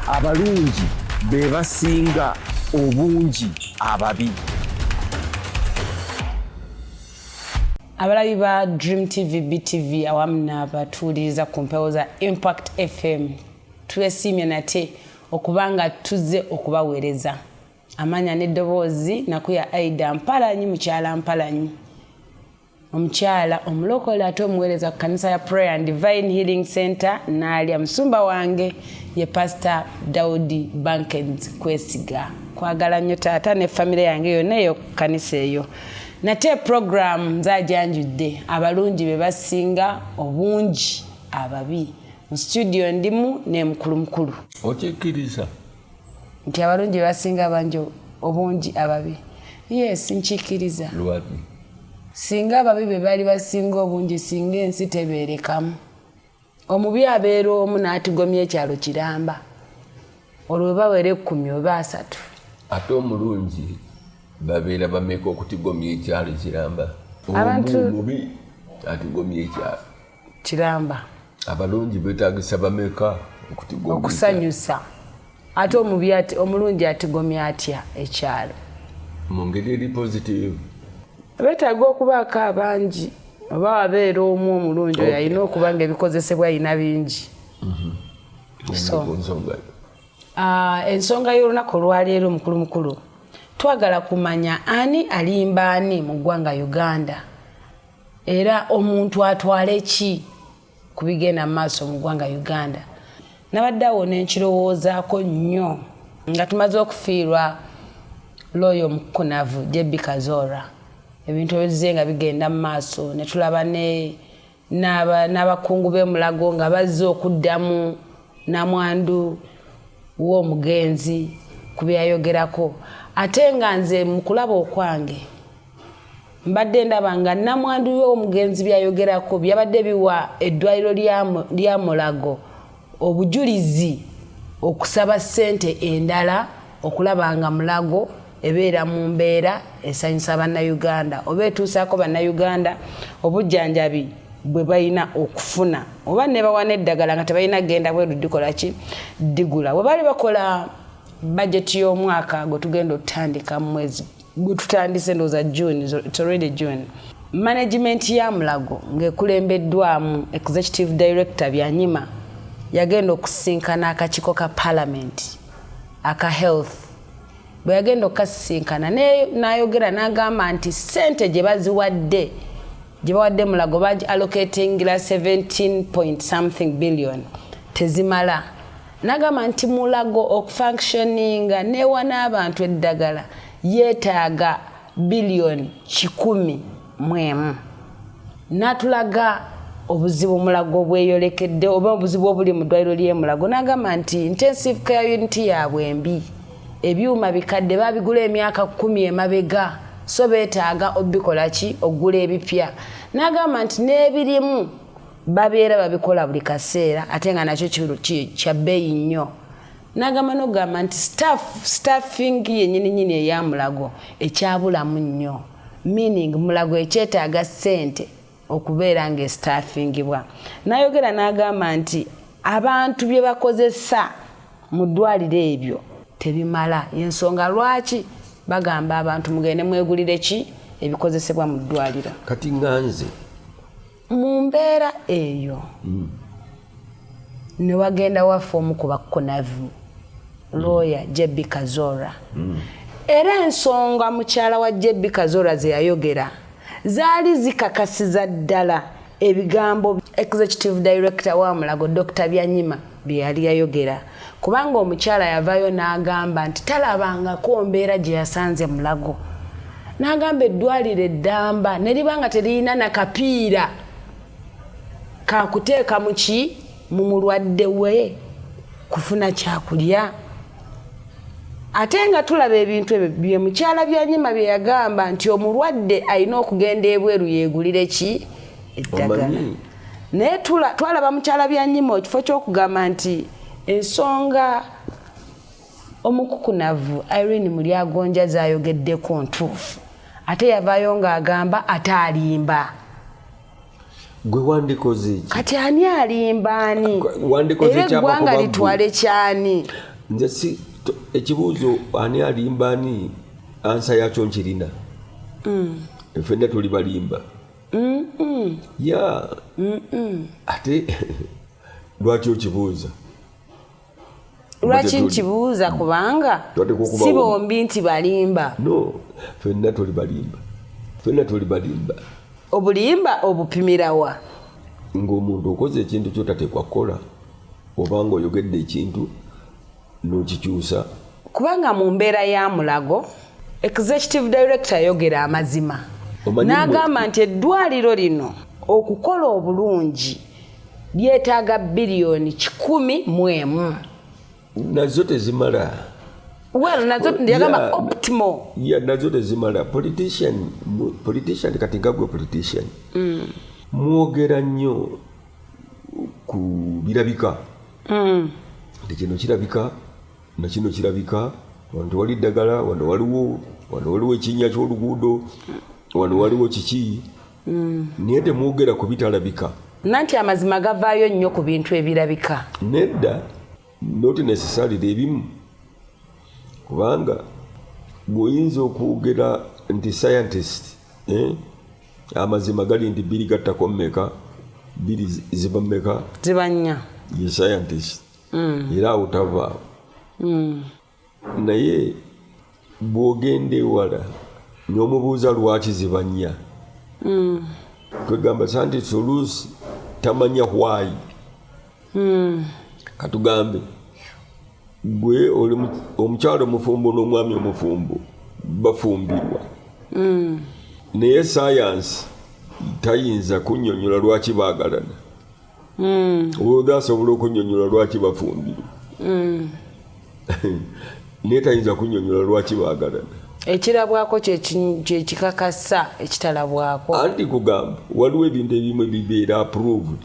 abalungi be basinga obungi ababi abalabi ba dream tv btv awamu nabatuuliriza ku mpewo za impact fm twesiimye nate okuba nga tuzze okubaweereza amaanya n'eddoboozi nakuya aida mpalanyi mukyala mpalanyi omukyala omulokole ate omuweereza ku kanisa ya prayer and divine healing center naalya musumba wange ye pasita daudi bankens kwesiga kwagala nnyo taata ne famire yange yonna eyo ku kanisa eyo nate puroguramu nzajanjudde abalungi be basinga obungi ababi mu situdiyo ndimu nemukulumukulu okikkiriza nti abalungi bebasinga abangi obungi ababi yes nkikiriza singa ababi bebali basinga obungi singa ensi tebeerekamu omubi abeera omu n'atigomya ekyalo kiramba olwo webawera ekkumi oba asatu ate omulungi babeera bameka okutigomya ekyalo kiramba omubi atigomya ekyalo kiramba abalungi betagisa bameka okusanyusa ate omubi omulungi atigomya atya ekyalo mu ngeri eri positive betaaga okubaako abangi oba wabeera omu omulungi oyo alina okuba nga ebikozesebwa alina bingi mhm. ah, ensonga y'olunaku olwaleero mukulu mukulu twagala kumanya ani alimba ani mu ggwanga uganda era omuntu atwale ki ku bigenda mu maaso mu ggwanga uganda nabadde awo nenkirowoozaako nnyo nga tumaze okufiirwa looyo omukunavu jebi kazora ebintu ebizze nga bigenda mu maaso ne tulaba n'abakungu b'emulago nga bazze okuddamu namwandu w'omugenzi ku byayogerako ate nga nze mu kulaba okwange mbadde ndaba nga namwandu y'omugenzi byayogerako byabadde biwa eddwaliro lya mulago obujulizi okusaba ssente endala okulaba nga mulago ebeera mu mbeera esanyusa bannayuganda oba etuusaako bannayuganda obujjanjabi bwe balina okufuna oba nebawa n'eddagala nga tebalina genda bweru dikola ki digula bwe baali bakola bajeti y'omwaka gwe tugenda okutandika mu mwezi gututandise ndoza june it's already june management ya mulago ngekulembeddwamu executive director byanyima yagenda okusinkana akakiko ka parliament aka health bwe yagenda okukasisinkana nayogera nagamba nti sente gye baziwadde gye bawadde mulago bagi allocatingira 17 point something billion tezimala Nagamba nti Mulago okufunctioninga newa n'abantu eddagala yeetaaga biliyoni kikumi mu emu. N'atulaga obuzibu Mulago bweyolekedde oba obuzibu obuli mu ddwaliro ly'e Mulago n'agamba nti intensive care unit yaabwe mbi, ebyuma bikadde baabigula emyaka kkumi emabega so beetaaga obikola ki okugula ebipya. N'agamba nti n'ebirimu babeera babikola buli kaseera ate nga nakyo kya bbeeyi nnyo nagamba nokugamba nti staff staffing yenyini nyini eya mulago ekyabulamu nnyo meaning mulago ekyetaaga ssente okubeera nga estaffingibwa nayogera n'agamba nti abantu bye bakozesa mu ddwaliro ebyo tebimala yensonga lwaki bagamba abantu mugende mwegulire ki ebikozesebwa mu ddwaliro kati nganze mu mbeera eyo mm. ne wagenda waffe omu ku bakunavu mm. looya jebbi kazora mm. era ensonga mukyala wa jebbi kazora ze yayogera zaali zikakasiza ddala ebigambo executive director wa mulago dr byanyima bye yali yayogera kubanga omukyala yavayo n'agamba nti talabangako mbeera gye yasanze mulago n'agamba eddwaliro eddamba ne liba nga teririna nakapiira kakuteeka mu ki mu mulwadde we kufuna kyakulya ate nga tulaba ebintu ebyo bye mukyala byanyima bye yagamba nti omulwadde alina okugenda ebweru yeegulire ki eddagala naye twalaba mukyala byanyima ekifo kyokugamba nti ensonga omukukunavu irene mulyagonja zayogeddeko ntuufu ate yavaayo ng'agamba ate alimba gwe wandikoze eki kati ani alimba ani era eggwanga litwale kyani nze si ekibuuzo ani alimba ani ansa yakyo nkirina mm. fenna tuli balimba ya ate lwaki okibuuza lwaki nkibuuza kubanga si bombi nti balimba no fenna toli balimba fenna toli balimba obulimba obupimirawa ng'omuntu okoze ekintu kyotateekwa kukola oba ng'oyogedde ekintu n'okikyusa kubanga mu mbeera ya mulago executive director yayogera amazima n'agamba nti eddwaliro lino okukola obulungi lyetaaga biliyoni kikumi mu emu nazo tezimala well nazo yagamba optimo ya nazo tezimala politician politician kati gagwe politician mm. mwogera nnyo ku birabika mm. nti kino kirabika nakino kirabika wano tewali ddagala wano waliwo wano waliwo ekinnya ky'oluguudo wano waliwo kiki mm. naye temwogera ku bitalabika nanti amazima gavaayo nnyo ku bintu ebirabika nedda noti nesisalira ebimu kubanga gweoyinza okwogera nti scientist eh? amazima gali nti biri gattako mumeka biri ziva mumeka ziba nnya ye scientist mm. era awo tavaawo mm. naye bwogenda ewala nomubuuza lwaki ziba nnya mm. kwegamba santi solusi tamanya hwayi hmm. katugambe gwe oli omukyalo omufumbo n'omwami omufumbo bafumbirwa hmm. naye sayansi tayinza kunyonyola lwaki bagalana hmm. oda asobola okunyonyola lwaki bafumbirwa naye tayinza kunyonyola lwaki bagalana ekirabwako kyekikakasa ekitalabwako anti kugamba waliwo ebintu ebimu ebibeera approved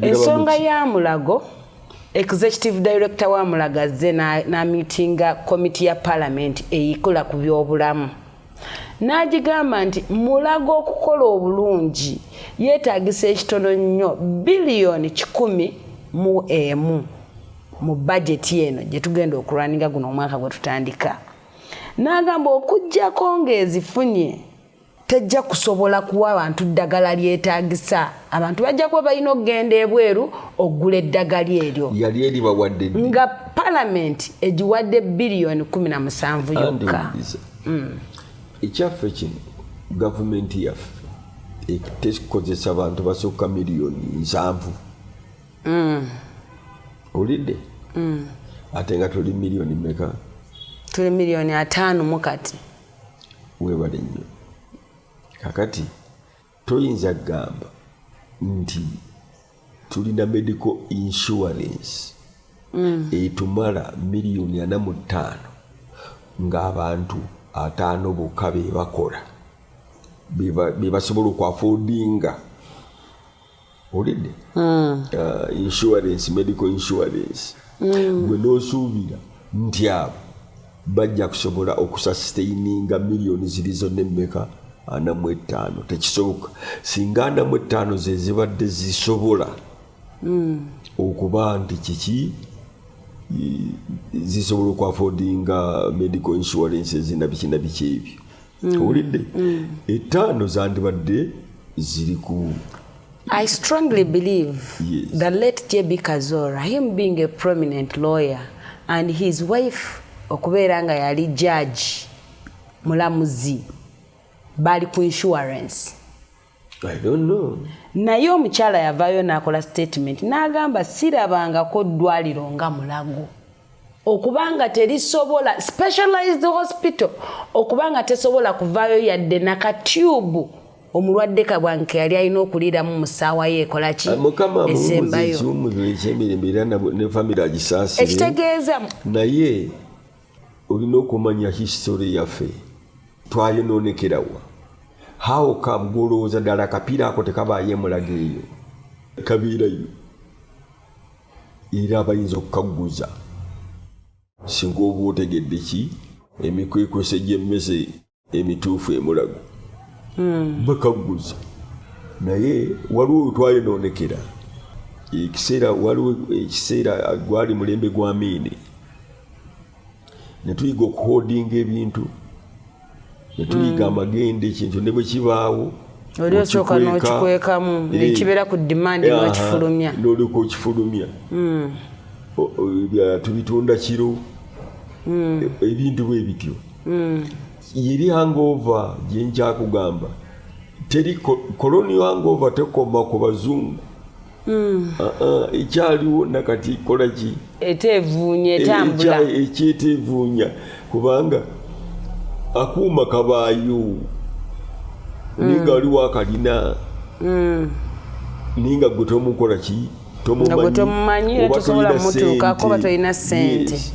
ensonga ya mulago executive director wa mulago azze namitinga komiti ya palamenti eyikola ku byobulamu n'agigamba nti mulago okukola obulungi yeetagisa ekitono nnyo biliyoni kikumi mu emu mu bajeti eno gye tugenda okulwaninga guno omwaka gwe tutandika n'agamba okugyako ng'ezifunye tejja kusobola kuwa bantu ddagala lyetaagisa abantu bajja kuba balina okugenda ebweru okugula eddagala eryo yali eribawadde nga palamenti egiwadde biliyoni 17 yokka mm. ekyaffe kino gavumenti yaffe tekozesa bantu basukka miliyoni nsanvu mm. olidde mm. ate nga tuli miliyoni meka tuli miliyoni ataano mukati webale nnyo kakati toyinza kugamba nti tulina medical insurance mm. etumala miliyoni ana mu ttaano ng'abantu ataano bokka be bakola be basobola okwafodinga owulidde hmm. uh, insurance medical insurance hmm. gwe nosuubira nti abo bajja kusobola okusasiteininga miliyoni ziri zonna emmeka anamu ettaano tekisoboka singa anamu ettaano zezibadde zisobola hmm. okuba nti kiki zisobola okwafodinga medical insurance ezina bikina biki ebyo mm. owulidde mm. etaano zandibadde ziri ku I strongly believe yes. the late JB Kazora, him being a prominent lawyer and his wife okubeera nga yali judge mulamuzi bali ku insurance naye omukyala yavaayo n'akola statement n'agamba sirabangako ddwaliro nga mulago okubanga terisobola specialized hospital okubanga tesobola kuvaayo yadde nakatube omulwadde kabwanke yali alina okuliiramu mu ssaawa ye ekola ki ah, esembayo ekitegeeza naye olina okumanya history yaffe twayononekerawa how come gwolowooza ddala akapiira ako tekabaayo emulaga eyo kabeerayo era abayinza okukagguza singa oba otegedde ki emikwekwese gy'emmese emituufu emulago hmm. bakagguza naye waliwo wetwayonoonekera ekiseera waliwo ekiseera gwali mulembe gwa miini netuyiga okuhodinga ebintu netuyiga hmm. amagenda ekintu ne bwe kibaawo oli osooka n'okikwekamu eh. nekibeera ku dimandi nokifulumya nolyoka okifulumya hmm. tubitunda kiro hmm. e, ebintu bwe bityo mm. yeri hangover gyenkyakugamba teri colonial hangover tekoma ku bazungu mm. ah, ah, ekyaliwo nakati kolaki etevuunya e, etambula ekyetevuunya kubanga akuuma kabaayo mm. naye nga waliwo akalina mm. naye nga gwe tomukola ki tomumanyi oba tolina sente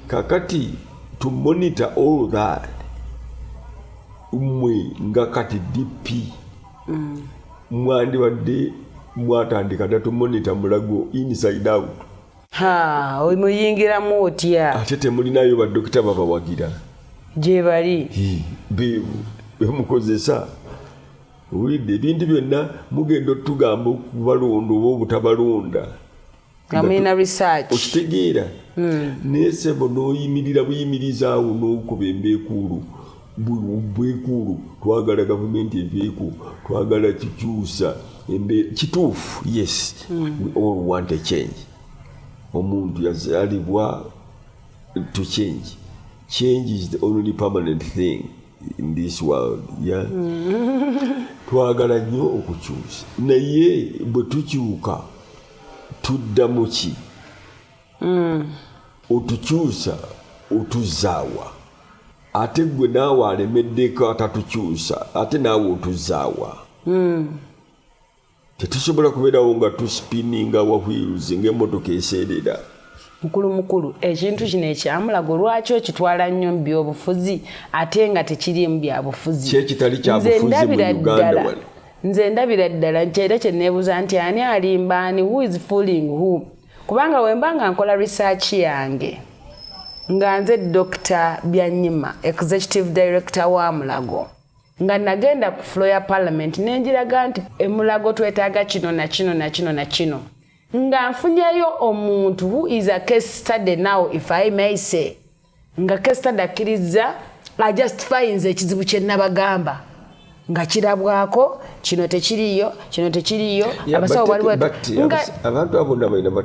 kakati to monitor all that mwe nga kati dp mm. mwandibadde mwatandika dda to monitor mulago inside out muyingiramu otya ate temulinayo badokita babawagira gyebali bemukozesa owulidde ebintu byonna mugenda otugamba okubalonda oba obutabalonda nga mulina research okitegeera hmm. naye sebo noyimirira buyimiriza awo nokuba embekuulu bwekuulu twagala gavumenti eveeko twagala kikyusa kituufu yes hmm. all want a change omuntu yazalibwa to change change is the only permanent thing in this world yeah? Hmm. twagala nnyo okukyusa naye bwe tukyuka tuddamu ki mm. otukyusa otuzaawa ate gwe naawe alemeddeko atatukyusa ate naawe otuzaawa mm. tetusobola kubeerawo nga tusipininga wahwiruzi ngaemotoka eseerera mukulu mukulu ekintu kino ekyamulago lwaki okitwala nnyo mu byobufuzi ate nga tekiriimu byabufuzi kyekitali kyabufuzi mu uganda wano Nze ndabira ddala nti era kyeneebuza nti ani alimba ani who is fooling who kubanga wemba nga nkola research yange nga nze Dr. Byanyima executive director wa Mulago nga nagenda ku flo ya parliament nenjiraga nti emulago twetaaga kino na kino na kino na kino nga nfunyeyo omuntu who is a case study now if I may say nga kestad akkirizza ajustifayinza ekizibu kye nabagamba nga kirabwako kino tekiriyo kino tekiriyo abasawo baliwo abantu abona balina ba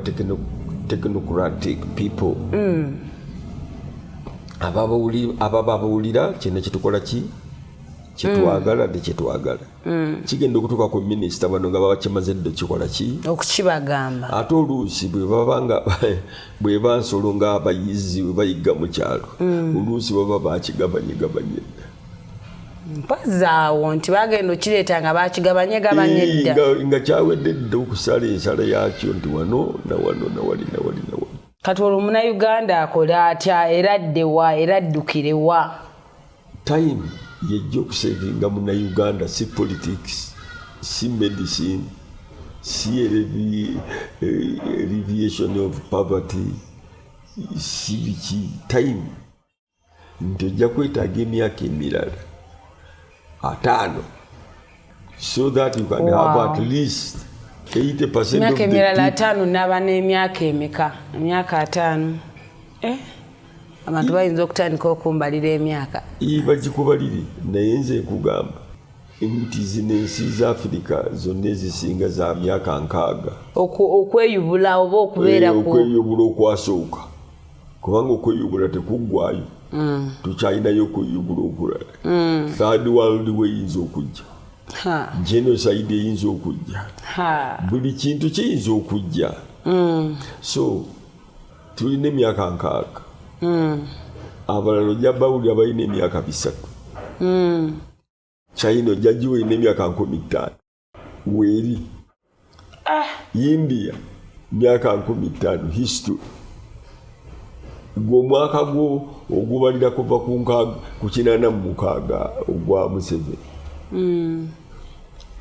technocratic people mm. ababawulira kyena kyetukola ki kyetwagala mm. nekyetwagala Mm. kigenda okutuuka ku minisita bano nga babakimaze dda kikola ki okukibagamba ate oluusi bwebabanga bweba nsolo nga abayizi webayigga mu kyalo mm. oluusi baba bakigabanyegabanye dda mpazaawo nti bagenda okireeta nga bakigabanye gabanye dda nga kyawedde dda okusala ensala yakyo nti wano nawano nawali nawali nawali kati olwo munauganda akole atya era addewa era addukirewa time yejja okusevinga munauganda si politics si medicine si reviation eh, of poverty si biki time nti ojja kwetaaga emyaka emirala ataano so that you can wow. have at least 80 percent of the emirala ataano naba n'emyaka emeka emyaka ataano eh? abantu bayinza okutandika okumbalira emyaka bagikubalire naye nze nkugamba emiti zino ensi za afirika zonna ezisinga za myaka nkaaga okweyubula oba okubeera eh, okweyubula okwasooka kubanga okweyubula tekuggwayo mm. tukyalinayo okweyubula okulala mm. third world weyinza okujja genocide eyinza okujja buli kintu kiyinza okujja mm. so tulina emyaka nkaaga abalala ojja bawulira balina emyaka bisatu china ojja giwulina emyaka nkumi ttaano weeri ah. india myaka nkumi ttaano history gwe omwaka gwo ogubalira kuva ku kinana mu mukaaga ogwa museveni hmm.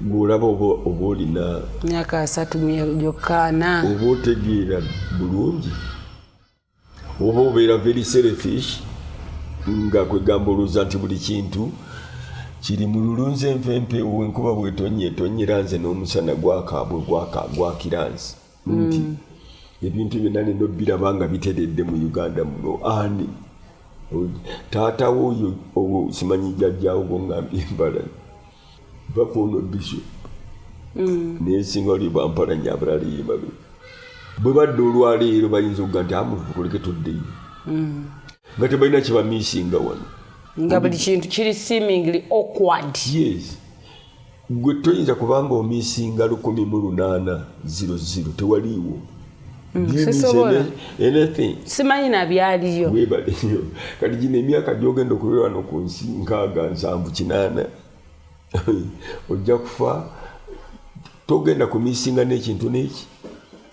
ng'olaba oba olina myaka asatu gyokkaana oba otegeera bulungi oba obeera very selfish nga kwegamba olowooza nti buli kintu kiri mu lulunzi envempe enkuba bwetonye tonyera nze n'omusana gwakaabwe gwakira nze nti mm. ebintu byonna nina obbiraba nga biteredde mu uganda muno ani taatawo oyo simanyi jajjawo gongambye embala bakono biso mm. nesinga oli bampala nyo abalala yebabe bwe badde olwaleero bayinza okuga nti amuvukuleke ah, tuddeyo mm. nga tebalina kyebamisinga wano nga buli kintu kiri seemingly awkward yes gwe toyinza kubanga omisinga lukumi mu lunaana ziro ziro tewaliiwo Mm, sisobola simanyi nabyaliyo webaleyo kati gino emyaka gyogenda okulera wano ku nsi nkaaga nsanvu kinaana ojja kufa togenda kumisinga n'ekintu n'eki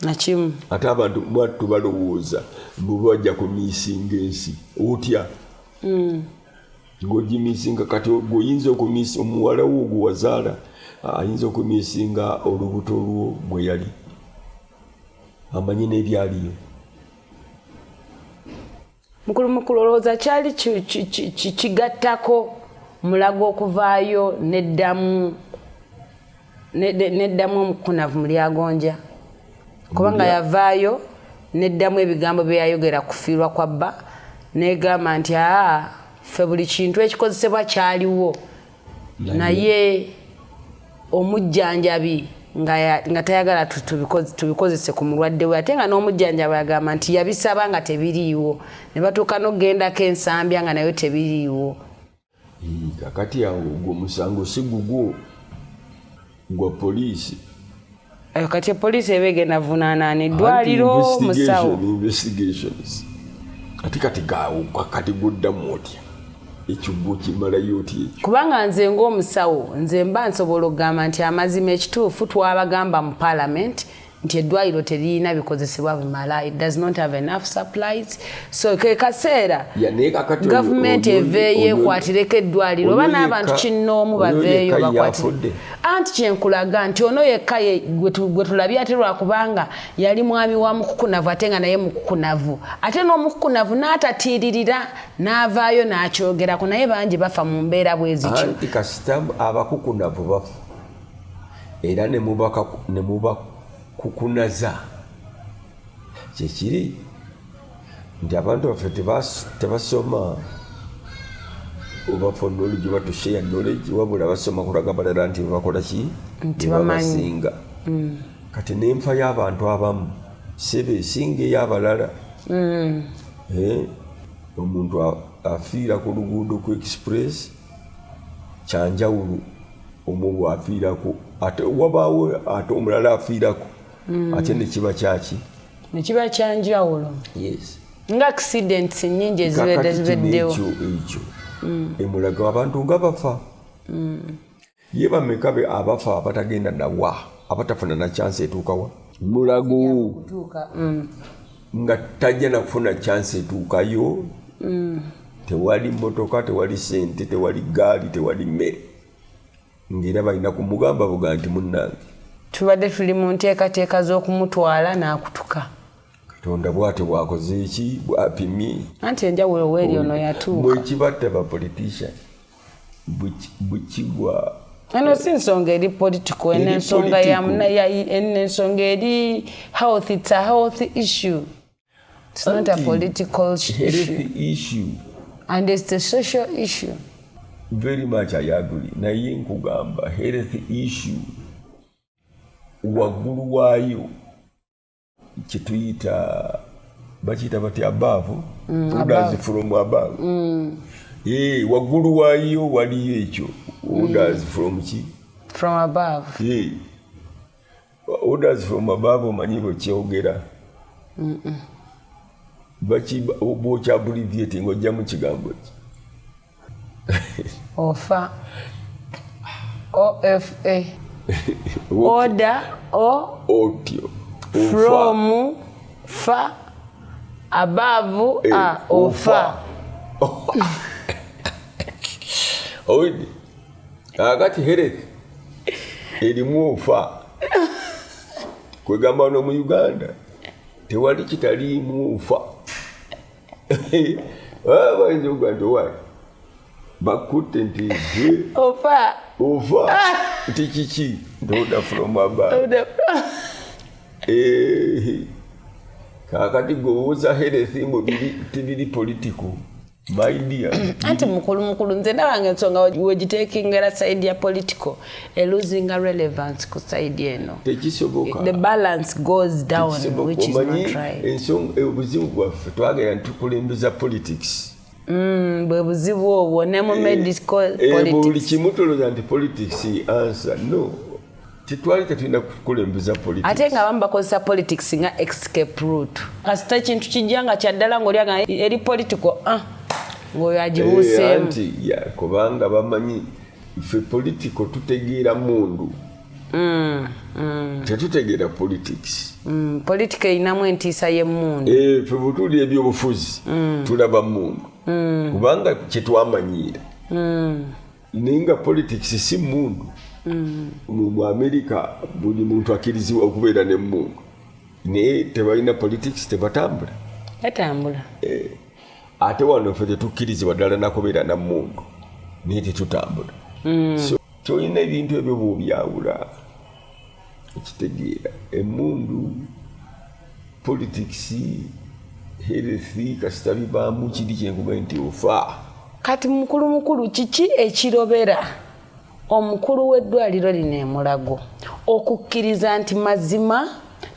nakimu ate abantu mwattu balowooza bwebajja kumisinga ensi otya mm. ng'ogimisinga kati gweoyinza okumisa omuwalawo ogwewazaala ayinza okumisinga olubuto lwo mweyali amanyi n'ebyaliyo mukulu mukulu olowooza kyali kigattako mulago okuvaayo neddamu neddamu omukunavu mu lyagonja kubanga yavaayo neddamu ebigambo bye yayogera kufiirwa kwa bba negamba nti aa ffe buli kintu ekikozesebwa kyaliwo naye omujjanjabi nga tayagala tubikozese ku mulwadde we ate nga n'omujjanjaba yagamba nti yabisaba nga tebiriiwo ne batuuka n'okugendako ensambya nga nayo tebiriiwo kakati awo ogwo omusango si gugwo gwa poliisi eh, kati poliisi eba egenda vunaanani ddwaliro musawo investigations ate kati gawuka kati guddamu otya ekigwo kimalayo otya ekyo kubanga nze ng'omusawo nze mba nsobola okugamba nti amazima ekituufu twabagamba mu paalamenti nti eddwaliro teririna bikozesebwa bimala it does not have enough supplies so ke kaseera gavumenti eveeyo ekwatireko eddwaliro oba n'abantu kinnoomu baveeyo bakwatire anti kyenkulaga nti ono yekka gwe tulabye ate lwakubanga yali mwami wa mukukunavu ate nga naye mukukunavu ate n'omukukunavu n'atatiiririra n'avaayo n'akyogerako naye bangi bafa mu mbeera bwezityo anti kasita abakukunavu bafa era ne mubakukunaza kyekiri nti abantu baffe tebasoma oba for knowledge oba to share knowledge wabula basoma kulaga balala nti bebakola ki ntibabasinga mm. kati nenfa y'abantu abamu sebe esinga ey'abalala mm. eh, omuntu afiira ku luguudo ku express kyanjawulo omulwa afiirako ate wabaawo ate omulala afiirako mm. ate nekiba kyaki nekiba kyanjawulo yes nga accidents nyingi ezibedde zibeddewo ekyo mm. emulaga abantu nga bafa mm. ye bameka be abafa abatagenda nawa abatafuna na chance etuukawa mulago mm. nga tajja nakufuna chance etuukayo mm. tewali motoka tewali sente tewali gaali tewali mmere ngaera balina kumugamba buga nti munnange tubadde tuli mu nteekateeka z'okumutwala n'akutuka katonda bwatyo bwakoze eki bwapimye anti enjawulo weeri ono yatuuka mwekibatta bapolitician bukigwa eno si nsonga eri political eno ensonga eno ensonga eri health it's a health issue it's not a political issue. issue and it's a social issue very much i agree naye nkugamba health issue waggulu waayo kyetuyita bakiyita bati abaavu odazi from abaavu ee waggulu waayo waliyo ekyo odazi from ki from above ee odazi from abaavu omanyi bwekyogera bwokyabulivyeti ngaojjamu kigambo ki ofa ofa oda o otyo from fa above eh, a ofa owedde kakati herek erimu ofa kwegamba no mu uganda tewali kitaliimu nfa bayinza okuga nti owa bakutte nti gwe ofa ofa ah! nti kiki ntoda from above eh, kakati gwewoza herethi mbu tibiri political anti mukulu mukulu nze ndabanga ensonga wegiteekingera saidi ya political a losing a relevance ku side eno tekisoboka the balance goes down which is not right ensong eh, obuzibu bwaffe twagera ntukulembeza politics mm, bwe buzibu obwo ne mu eh, medical eh, politics buli kimu toloza nti politics answer no tetwali tetulina kukulembeza politics ate nga abamu bakozesa politics nga escape route kasita ekintu kijja nga kyaddala ngaoli aga eri political ah, ng'oyo agibuuseemu kubanga bamanyi ffe politiko tutegeera mundu mm, mm. tetutegeera politics mm, politika erinamu entiisa yemundu eh, ffe butuli ebyobufuzi mm. tulaba mundu mm. kubanga kyetwamanyiira mm. naye nga politics si mundu mm. mu amerika buli muntu akirizibwa okubeera nemundu naye tebalina politics tebatambula batambula eh. ate wano ffe tetukkirizibwa ddala nakubeera na mundu naye tetutambula mm. so tolina ebintu ebyo bwobyawula ekitegeera emundu politics herethi kasita bibaamu kiri kyenkuga nti ofa kati mukulu mukulu kiki ekirobera omukulu w'eddwaliro lino e Mulago okukkiriza nti mazima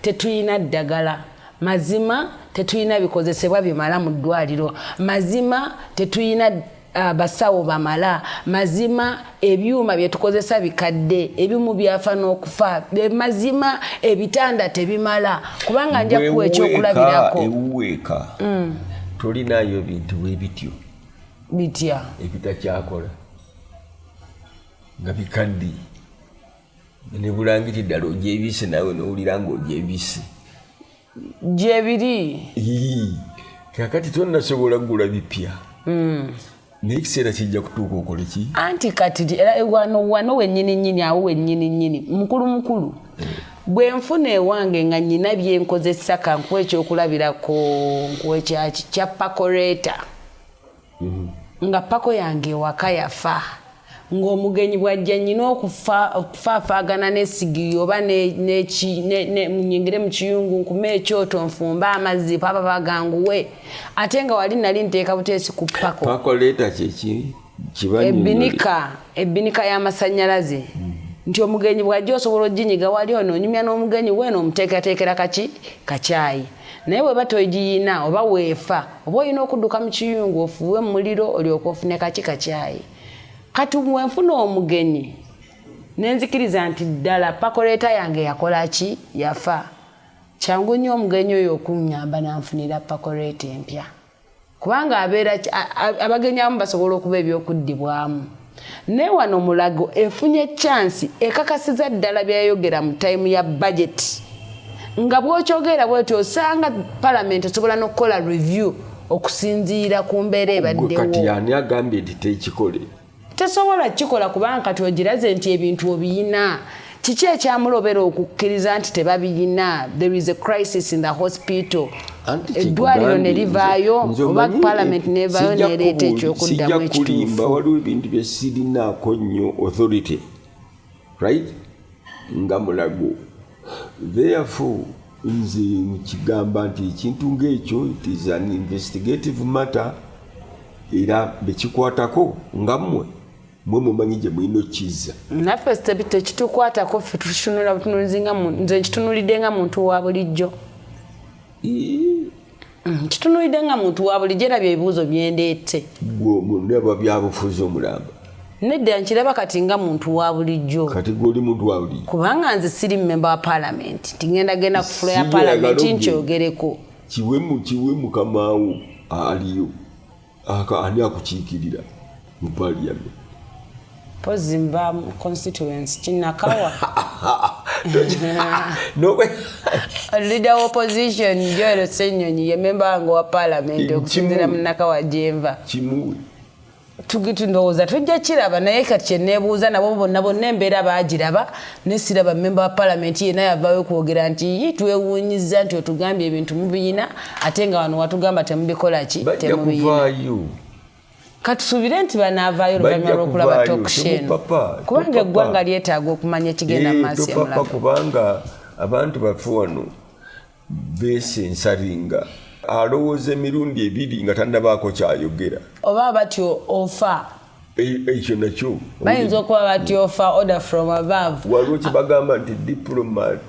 tetulina ddagala mazima tetulina bikozesebwa bimala mu ddwaliro mazima tetulina Ah, basawo bamala mazima ebyuma byetukozesa bikadde ebimu byafa n'okufa mazima ebitanda tebimala kubanga nja kuwa ekyokulabirako ewuweeka mm. tolinayo bintu bwebityo bitya ebitakyakola nga bikadde ne bulangiti ddala ogyebise nawe nowulira nga ogyebise gyebiri kakati tonasobola kugula bipya hmm. naye ekiseera kijja kutuuka okole ki anti kati era wano wano wenyini nyini awo wenyini nyini mukulu mukulu bwenfuna ewange nga nyina byenkozesa kankuwa ekyokulabirako nkwekyaki kya pakoreta nga pako yange ewaka yafa ng'omugenyi bw'ajja nnyina okufaafaagana n'essigiri oba munyingire mu kiyungu nkume ekyoto nfumbe amazzi papa baganguwe ate nga wali nali nteeka buteesi ku pako pako leeta kyeki ebinika ebinika y'amasannyalaze mm. nti omugenyi bw'ajja osobola oginyiga wali ono onyumya n'omugenyi weeno omuteekerateekera kaki kakyayi Naye bweba toigiyina oba weefa oba oyina okuduka mukiyungu ofuuwe mumuliro olyoke ofune kaki kakyayi kati bwenfuna omugenyi nenzikiriza nti ddala pakoleeta yange yakolaki yafa kyangu nnyo omugenyi oyo okunyamba nanfunira pakoleeta empya. kubanga abeera abagenyi abamu basobola okuba ebyokuddibwamu naye wano mulago efunye chansi ekakasiza ddala byeyayogera mu tayimu ya bajeti nga bwokyogeera bweti osanga palamenti esobola nokukola review okusinziira ku mbeera ebaddewo kati yani agambye nti tekikole Tesobola kikola kubanga kati ogiraze nti ebintu obiyina. Kiki ekyamulobera okukkiriza nti tebabiyina? There is a crisis in the hospital. eddwaliro ne livaayo oba parliament nevaayo nereeta ekyokuddamu ekituufu waliwo ebintu byesirinaako nnyo authority right nga mulago therefore nze nkigamba nti ekintu ngaekyo it is an investigative matter era bekikwatako nga mmwe mwe mumanyi gye mulina okukizza naffe tekitukwatako ffe tutunula butunulizi nga nze nkitunulidde nga muntu wa bulijjo Mm, kitunulidde nga muntu wa bulijjo era byebibuuzo byendeette gwe omundaba byabufuzi omulamba nedda nkiraba kati nga muntu wa bulijjo kati gwe oli muntu wa bulijjo kubanga nze siri mumemba wa paalamenti nti ngenda genda ku fula ya paalamenti nkyogereko kiwemu kiwe mukamawo aliyo Aka ani akukiikirira mu parliament? Pozi mba mu constituency kinakawa. Leader wa opposition Joel Senyonyi ye member wange wa parliament okusinzira mu nakawa gyemva. Kimuwe. Tugitundowooza tujja kiraba naye kati kye neebuuza nabo bonna bonna embeera baagiraba Naye siraba mmemba wa palamenti yenna yavaayo okwogera nti yi twewuunyizza nti otugambye ebintu mubiyina ate nga wano watugamba temubikola ki temubiyina katusuubire nti banaavaayo oluvannyuma lw'okulaba toksheno kubanga eggwanga lyetaaga okumanya ekigenda mu maaso emulaga abantu baffe wano beesensaringa alowooza emirundi ebiri nga tandabaako kyayogera oba bati ofa e, ekyo nakyo bayinza okuba bati ofa order from above waliwo kyebagamba nti diplomat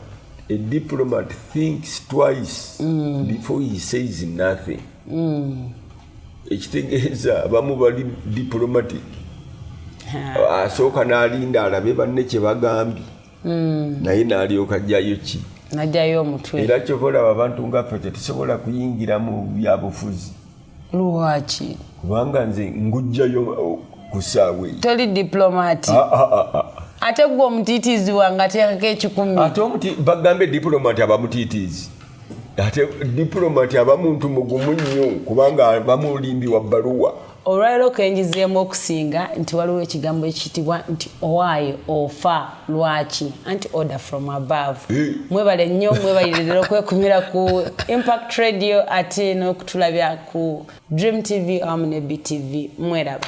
a diplomat thinks twice mm. before he says nothing mm. ekitegeeza bamu bali diplomatic asooka n'alinda alabe banne kyebagambye mm. naye nalyoka jayo ki najayo omutwe era kyova olaba abantu ngaffe tetusobola kuyingira mu byabufuzi lwaki kubanga nze ngujjayo uh, kusaawe toli diplomati ah, ah, ah, ate gwe omutiitiizi wange ateekako ekikumi ate bagambe diplomati abamutiitiizi ate diplomati aba muntu mugumu nnyo kubanga abamulimbi wa bbaluwa Olwalero kenjizeemu okusinga nti waliwo ekigambo ekitibwa nti owaaye ofa lwaki anti order from above eh. mwebale nnyo mwebalirira okwekumira ku impact radio ate n'okutulabya ku dream tv awamu ne btv mweraba